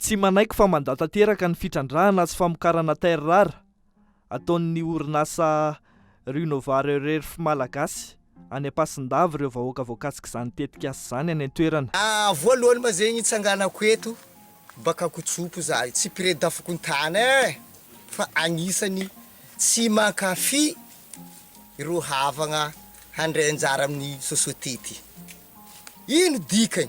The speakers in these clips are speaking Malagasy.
Tsy manaiky fa mandà tanteraka ny fitrandrahana sy famokarana terres rares ataon'ny orinasa Renova Rare-Earth malagasy any Ampasindava ireo vahoaka voakasik'izany tetikasa izany any an-toerana. Voalohany ma zegny itsanganako eto baka kotsopo za tsy mpire dafokontany eh fa agnisany tsy mankafy ireo havagna handray anjara amin'ny société ty ino dikany?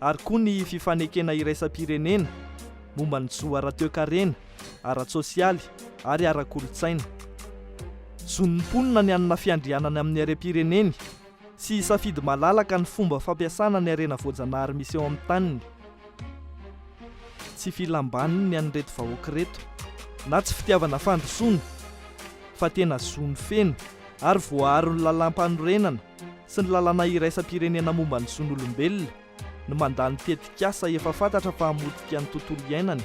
ary koa ny fifanekena iraisam-pirenena momba ny zo ara-toekarena, ara-tsosialy ary ara-kolontsaina. Zon'ny mponina ny hanana fiandrianany amin'ny harem-pireneny sy hisafidy malalaka ny fomba fampiasana ny harena voajanahary misy eo amin'ny taniny. Tsy filam-baniny ny an'ireto vahoaka ireto na tsy fitiavana fandrosoana fa tena zony feno ary voaaron'ny lalàm-panorenana sy ny lalàna iraisam-pirenena momba ny zon'olombelona no mandà ny tetikasa efa fantatra fa hamotika ny tontolo iainana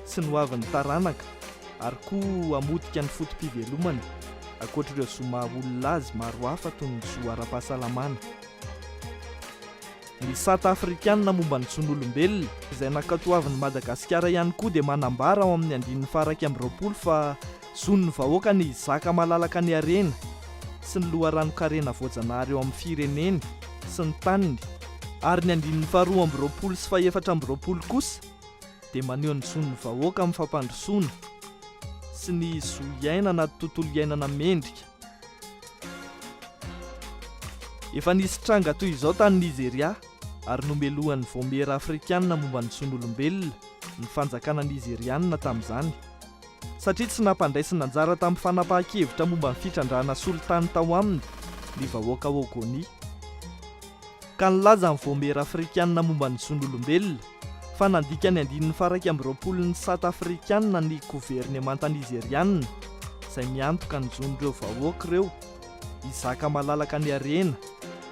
sy ny hoavin'ny taranaka ary koa hamotika ny foto-pivelomana ankoatr'ireo zo maha olona azy maro hafa toy ny zo ara-pahasalamana. Ny sata afrikana momba ny zon'olombelona izay nankatoavin'i Madagasikara ihany koa dia manambara ao amin'ny andininy faha iraika amby roapolo fa Zon'ny vahoaka ny hizaka malalaka ny harena sy ny loharanon-karena voajanahary eo amin'ny fireneny sy ny taniny, ary ny andininy faharoa amby roapolo sy fahefatra amby roapolo kosa dia maneho ny zon'ny vahoaka amin'ny fampandrosoana sy ny zo hiaina anaty tontolo iainana mendrika. Efa nisy tranga toy izao tany Nizeria, ary nomelohan'ny Vaomiera Afrikana momba ny Zon'Olombelona ny fanjakana Nizeriana tamin'izany. satria tsy nampandraisina anjara tamin'ny fanapahan-kevitra momba ny fitrandrahana solitany tao aminy ny vahoaka Ogoni, ka nilaza ny Vaomiera Afrikanina momba ny Zon'olombelona fa nandika ny andininy faharaika amby roapolon'ny sata afrikanina ny governemanta Nizeriana izay miantoka ny zon'ireo vahoaka ireo. Hizaka malalaka ny harena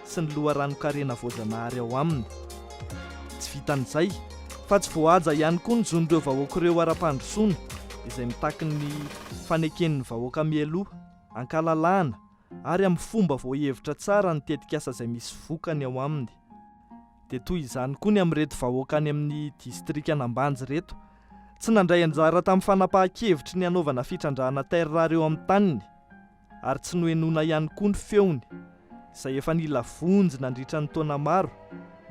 sy ny loharanon-karena voajanahary ao aminy. Tsy vitan'izay, fa tsy voahaja ihany koa ny zon'ireo vahoaka ireo ara-pandrosoana izay mitaky ny faneken'ny vahoaka mialoha, an-kalalahana ary amin'ny fomba voahevitra tsara ny tetikasa izay misy vokany ao aminy. Dia toy izany koa ny amin'ireto vahoaka any amin'ny distrikan'Ambanja ireto, tsy nandray anjara tamin'ny fanapahan-kevitry ny hanaovana fitrandrahana terres rares eo amin'ny taniny, ary tsy nohenoina ihany koa ny feony, izay efa nila vonjy nandritra ny taona maro,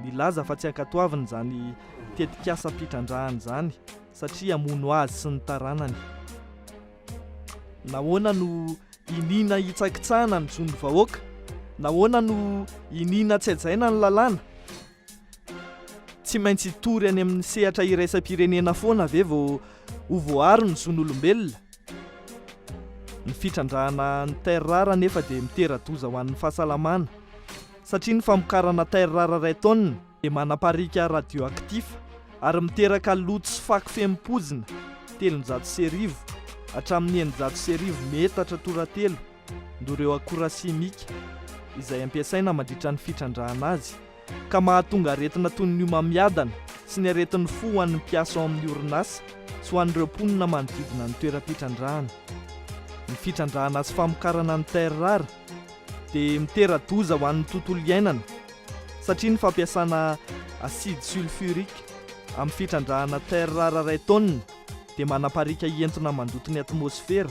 nilaza fa tsy ankatoaviny izany tetikasam-pitrandrahana izany satria hamono azy sy ny taranany. Nahoana no iniana hitsakitsahana ny zon'ny vahoaka? Nahoana no iniana tsy hajaina ny lalàna? Tsy maintsy hitory any amin'ny sehatra iraisam-pirenena foana ve vao ho voaaro ny zon'olombelona? Ny fitrandrahana ny terres rares anefa dia mitera-doza ho an'ny fahasalamana, satria ny famokarana terres rares iray tonne dia manapariaka radioactif ary miteraka loto sy fako fehim-poizina telonjato sy arivo hatramin'ny eninjato sy arivo metatra tora-telo no ireo akora simika izay ampiasaina mandritra ny fitrandrahana azy ka mahatonga aretina toy ny homamiadana sy ny aretin'ny fo ho an'ny mpiasa ao amin'ny orinasa sy ho an'ireo mponina manodidina ny toeram-pitrandrahana. Ny fitrandrahana sy famokarana ny terrar dia mitera-doza ho an'ny tontolo iainana satria ny fampiasana acide sulfurique amin'ny fitrandrahana terrar iray taonina dia manapariaka hientona mandoto ny atmosfera,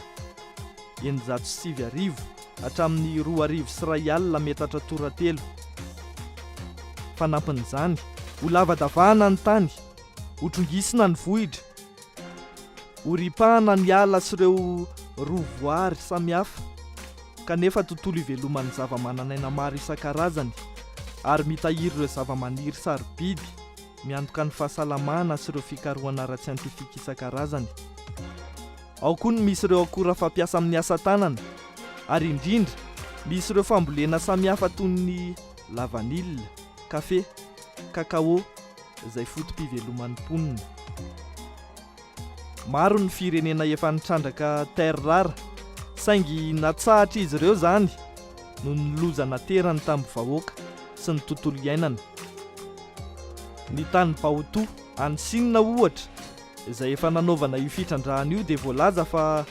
eninjato sy sivy arivo hatramin'ny roa arivo sy iray alina metatra toratelo. Fanampin'izany, ho lavadavahana ny tany, ho trongisina ny vohitra, ho ripahana ny ala sy ireo rovoary samihafa, kanefa tontolo iveloman'ny zavamananaina maro isan-karazany ary mitahiry ireo zavamaniry sarobidy. Miantoka ny fahasalamana sy ireo fikarohana ara-tsiantifika isan-karazany. Ao koa ny misy ireo akora fampiasa amin'ny asa tanana, ary indrindra, misy ireo fambolena samihafa toy ny lavanila, kafe, cacao, izay foto-piveloman'ny mponina. Maro ny firenena efa nitrandraka terres rares, saingy natsahatr'izy ireo izany noho ny loza naterany tamin'ny vahoaka sy ny tontolo iainana. Ny tany Baotou, any Sina ohatra, izay efa nanaovana io fitrandrahana io dia voalaza fa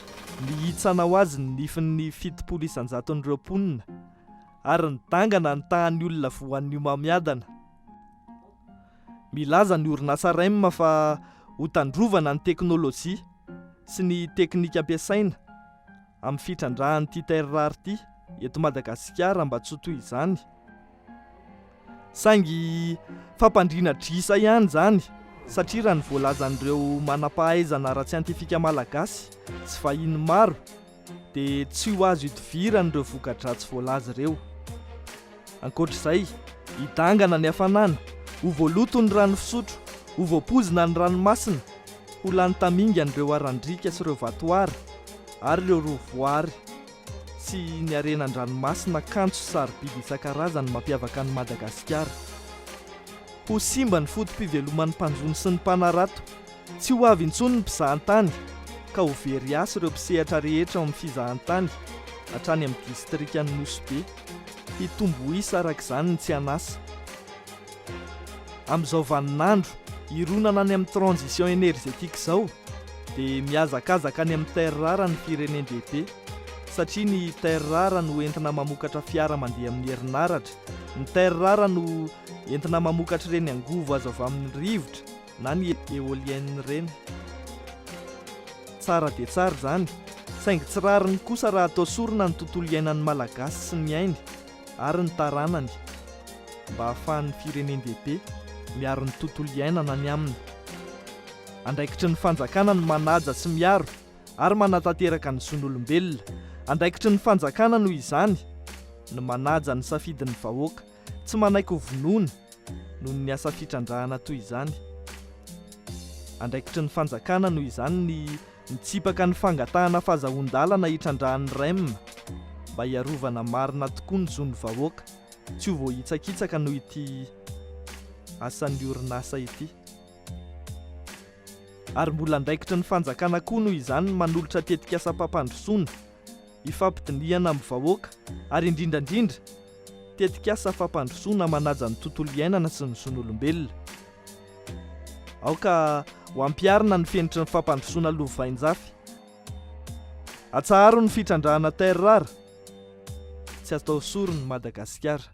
nihitsana ho azy ny nifin'ny fitopolo isan-jaton'ireo mponina, ary nidangana ny tahan'ny olona voan'ny homamiadana. Milaza ny orinasa Rem fa ho tandrovana ny teknolojia sy ny teknika ampiasaina amin'ny fitrandrahan'ity terre rare ity eto Madagasikara mba tsy ho toy izany. Saingy fampandriana adrisa ihany izany satria raha ny voalazan'ireo manam-pahaizana ara-tsiantifika malagasy sy vahiny maro dia tsy ho azo idivirany ireo voka-dratsy voalaza ireo. Ankoatra izay, hidangana ny hafanana, ho voaloto ny rano fisotro, ho voapoizina ny ranomasina, ho lany tamingana ireo haran-driaka sy ireo vatoara ary ireo rova voaary sy ny harena an-dranomasina kanto sy sarobidy isan-karazany mampiavaka an'i Madagasikara. Ho simba ny foto-piveloman'ny mpanjono sy ny mpanarato Tsy ho avy intsony ny mpizahantany ka ho very asa ireo mpisehatra rehetra ao amin'ny fizahantany hatrany amin'ny distrikan'i Nosy Be. Hitombo ho isa araka izany ny tsy an'asa. Amin'izao vaninandro hironana any amin'ny transition énergétique izao dia mihazakazaka any amin'ny terres rares ny firenen-dehibe satria ny terres rares no entina mamokatra fiara mandeha amin'ny herinaratra, ny terres rares no entina mamokatra ireny angovo azo avy amin'ny rivotra, na ny eolienne ireny. Tsara dia tsara izany, saingy tsy rariny kosa raha atao sorona ny tontolo iainan'ny Malagasy sy ny ainy ary ny taranany, mba hahafahan'ny firenen-dehibe miaro ny tontolo iainana ny aminy. Andraikitry ny fanjakana ny manaja sy miaro ary manatanteraka ny zon'olombelona. Andraikitry ny fanjakana noho izany ny manaja ny safidin'ny vahoaka Tsy manaiky ho vonoina noho ny asa fitrandrahana toy izany. Andraikitry ny fanjakana noho izany ny mitsipaka ny fangatahana fazahoan-dalana hitrandrahan'ny rem mba hiarovana marina tokoa ny zon'ny vahoaka tsy ho voahitsakitsaka noho ity asan'ny orinasa ity. Ary mbola andraikitry ny fanjakana koa noho izany ny manolotra tetikasam-pampandrosoana ifampidinihana amin'ny vahoaka ary indrindra indrindra tetikasa fampandrosoana manaja ny tontolo iainana sy ny zon'olombelona. Aoka ho ampiharina ny fenitry ny fampandrosoana lovainjafy. Atsaharo ny fitrandrahana terres rares, tsy atao sorona i Madagasikara.